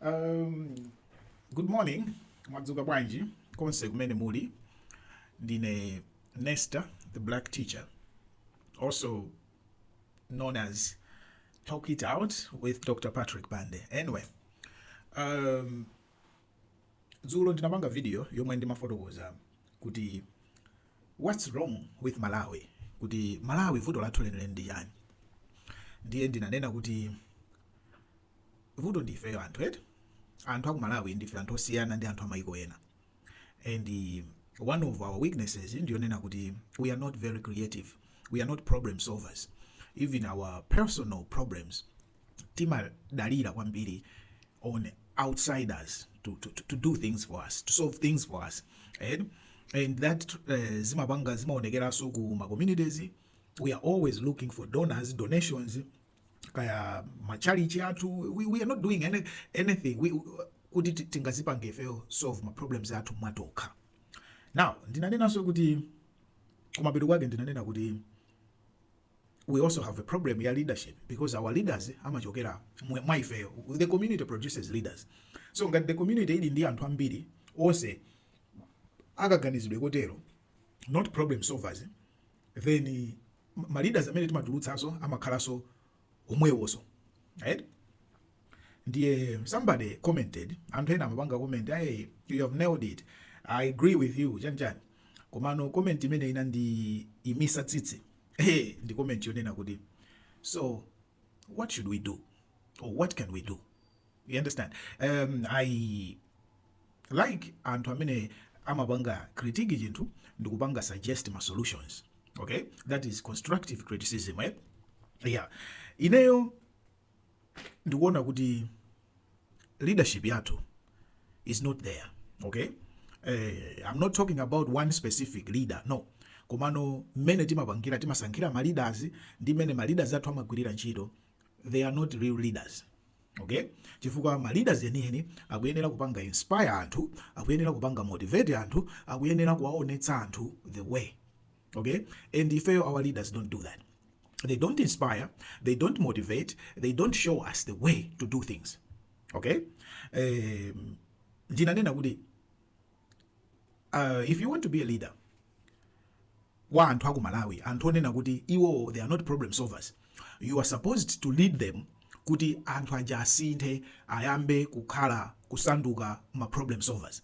Um, good morning mwadzuka bwanji konse kumene muli ndine nesta the black teacher also known as talk it out with dr patrick bande anyway um, dzulo ndinapanga video yomwe ndimafotokoza kuti what's wrong with malawi kuti malawi vuto lathu lenileni ndi chani ndiye ndinanena kuti vuto ndi ifeyo anthu eti anthu akumalawi ndife anthu osiyana ndi anthu amaiko ena and uh, one of our weaknesses ndiyonena kuti we are not very creative we are not problem solvers even our personal problems timadalira kwambiri on outsiders to, to, to, to do things for us to solve things for us and, and that uh, zimapanga zimaonekeranso ku ma communities we are always looking for donors donations kaya matchalitchi athu we, we are not doing any, anything we, kuti tingazipange ifeyo solve ma problems athu mwatokha now ndinanenanso kuti kumapeto kwake ndinanena kuti we also have a problem ya leadership because our leaders amachokera mwa ifeyo the community produces leaders so ngati the community ili ndi anthu ambiri onse akaganizidwe kotero not problem solvers then ma leaders amene timatulutsaso amakhalaso omwewoso right ndiye somebody commented anthu ena amapanga comment hey you have nailed it i agree with you chani chani komano comment imene inandiimisa tsitsi hey ndi comment yonena kuti so what should we do or what can we do you understand um, i like anthu amene amapanga critique chinthu ndikupanga suggest ma solutions okay that is constructive criticism eh? yeah ineyo ndikuona kuti leadership yathu is not there okay eh, i'm not talking about one specific leader no komano mmene timapangira timasankhira ma leaders ndi mmene ma leaders athu amagwirira ntchito they are not real leaders okay chifukwa ma leaders enieni akuyenera kupanga inspire anthu akuyenera kupanga motivate anthu akuyenera kuwaonetsa anthu the way okay and ifeyo our leaders don't do that they don't inspire they don't motivate they don't show us the way to do things okay um, ndinanena kuti uh, if you want to be a leader wa anthu aku malawi anthu onena kuti iwo they are not problem solvers you are supposed to lead them kuti anthu aja asinthe ayambe kukhala kusanduka ma problem solvers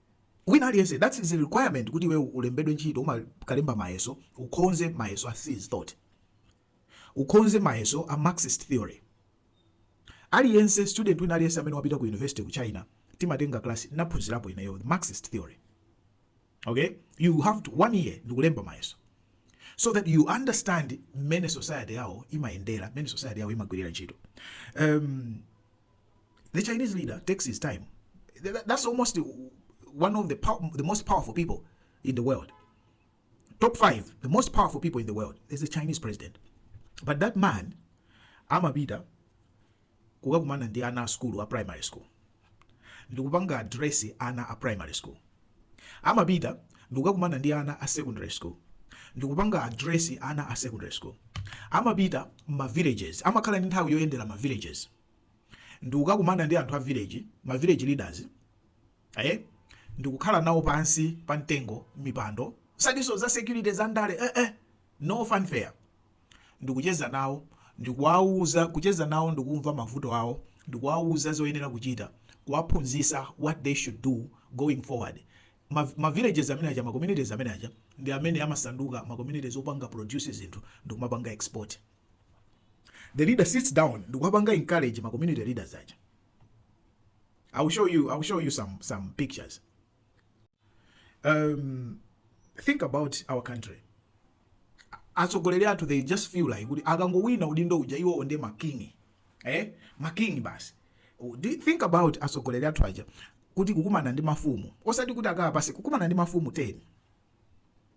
wina aliyense that is a requirement kuti iwewe ulembedwe ntchito umakalemba mayeso ukhonze mayeso a Xi's thought ukhonze mayeso a marxist theory aliyense student wina aliyense amene wapita ku university ku china timatenga class naphunzirapo ineyo the marxist theory okay you have to one year ndikulemba mayeso so that you understand mmene society yawo imayendera mmene society yawo imagwirira ntchito um, The Chinese leader takes his time. That's almost one of the, pow- the most powerful people in the world. Top five, the most powerful people in the world is the Chinese president. But that man, amapita kukakumana ndi ana a school a primary school ndikupanga address ana a primary school amapita ndikukakumana ndi ana a secondary school ndikupanga address ana a secondary school amapita ma villages amakhala ndi nthawi yoyendera ma villages ndikukakumana ndi anthu a village ma village leaders eh ndikukhala nawo pansi pa mtengo mipando zosatiso za security za ndale eh, eh, no fanfare ndikucheza nawo ndikuwauza kucheza nawo ndikumva mavuto awo ndikuwauza zoyenera kuchita kuwaphunzisa what they should do going forward ma, ma villages amene aja ma communities amene aja ndi amene amasanduka ma communities opanga produce zinthu ndikumapanga export the leader sits down ndikuwapanga encourage ma community leaders aja i will show you i will show you some some pictures um think about our country atsogoleri athu they just feel like kuti akangowina udindo uja iwowo ndi makingi eh makingi basi think about atsogoleri athu aja kuti kukumana ndi mafumu osati kuti akhale pansi kukumana ndi mafumu 10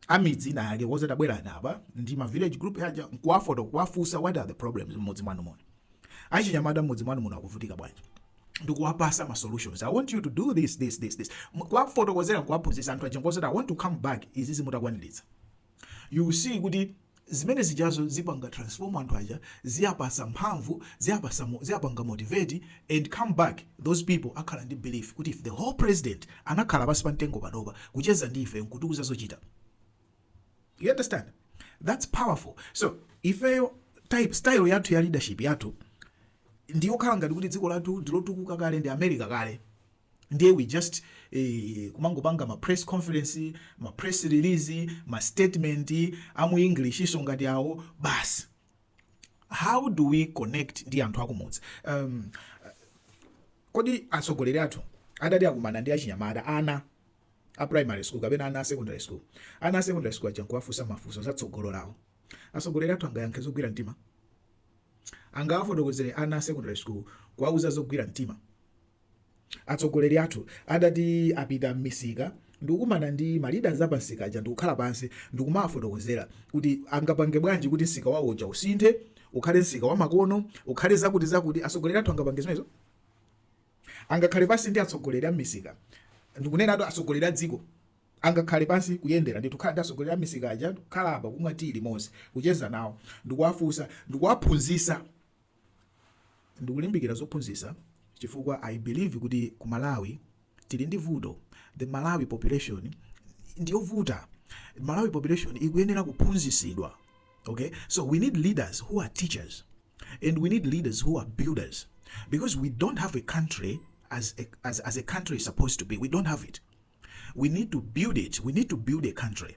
amidzi ina yake kuwauza tabwerani apa ndi ma village group aja nkuwafoto kuwafunsa what are the problems mmudzi mwanu muno achinyamata mmudzi mwanu muno akuvutika bwanji ndikuwapasa ma solutions i want you to do this this this this M- kuwafotokozera nkuwaphunzitsa anthu aja nkuwauza i want to come back izizi mutakwaniritsa you will see kuti zimene zijazo zipanga transform anthu aja ziapasa mphamvu ziapasa ziapanga motivate and come back those people akhala ndi belief kuti if the whole president anakhala pansi pa mtengo panopa kucheza ndi ife nkutiuza zochita you understand that's powerful so ifeyo style yathu ya leadership yathu ndiyokhala ngati kuti dziko lathu ndilotukuka kale ndi america kale ndiye we just eh, kumangopanga ma press conference ma press release ma statement amu englishiso ngati awo basi how do we connect ndi anthu akumudzi um, kodi atsogoleri athu atati akumana ndi achinyamata ana a primary school kapena ana a secondary school ana a secondary school aja nkuwafunsa mafunso za tsogolo lawo atsogoleri athu angayankhe zogwira mtima angawafotokozere ana a secondary school kuwauza zogwira mtima Atsogoleri athu atati apita mmisika ndikukumana ndi ma leaders apa msika aja ndikukhala pansi ndikumawafotokozera kuti angapange bwanji kuti msika wawo uja usinthe ukhale msika wamakono, ukhale zakuti zakuti. Atsogoleri athu angapange zimenezo? Angakhale pansi ndi atsogoleri a mmisika, ndikunenatu atsogoleri a dziko, angakhale pansi kuyendera ndithu kukhala ndi atsogoleri a mmisika aja kukhala apa kumwa tea limodzi, kucheza nawo ndikuwafunsa, ndikuwaphunzitsa Ndikulimbikira zophunzisa chifukwa I believe kuti ku Malawi tili ndi vuto the Malawi population ndiyovuta Malawi population ikuyenera kuphunzisidwa ok so we need leaders who are teachers and we need leaders who are builders because we don't have a country as a, as, as a country is supposed to be we don't have it we need to build it we need to build a country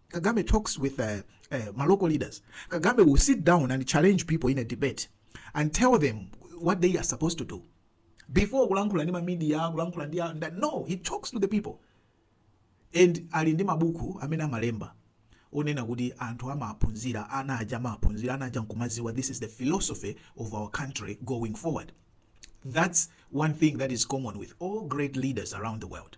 Kagame talks with uh, uh, ma local leaders. Kagame will sit down and challenge people in a debate and tell them what they are supposed to do. Before kulankhula ndi ma media, kulankhula ndi no, he talks to the people. And ali ndi mabuku amene amalemba onena kuti anthu amaphunzira ana aja amaphunzira ana aja nkumaziwa this is the philosophy of our country going forward. That's one thing that is common with all great leaders around the world.